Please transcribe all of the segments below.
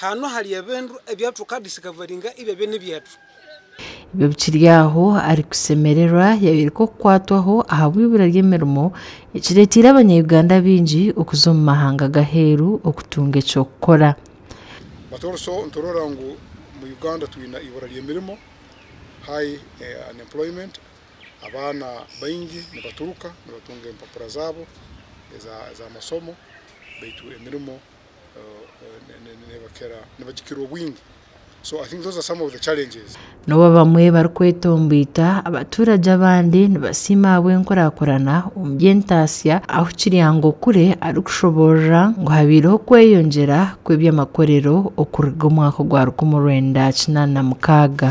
Haanu hali ebintu ebi tukaadisiikavaringa ebi ebyo n'ebyaitu. Ebyo bikiri aho, Arikusemererwa yayoreka okukwatwaho ahabw'eibura ry'emirimo ekireeteire Abanya-Uganda baingi okuza omu mahanga g'aheeru okutunga eky'okukora. But also niturora ngu mu Uganda twine eibura ry'emirimo, high unemployment, abaana baingi nibaturuka nibatunga empapura zaabo ez'amasomo baitu emirimo N'obu abamwe barikwetomboita, abatuurage abandi nibasiima ahabw'enkurakurana omu by'entaatsya ahu Kiryangokure arikushoboorora ngu habaireho okweyongyera kw'eby'amakorero okuruga omwaka ogwa rukumi orwenda kinaana na mukaaga.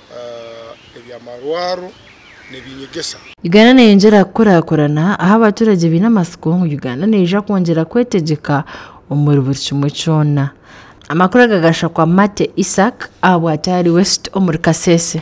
eby'amarwaro n'ebinyegesa. Uganda neyongyera kukurakurana ahu abaturage baine amatsiko ngu Uganda neija kwongyera kwetegyeka omuri buri kimwe kyona. Amakuru aga gashakwa Mate Isaac ahabwati ahari West omuri Kasese.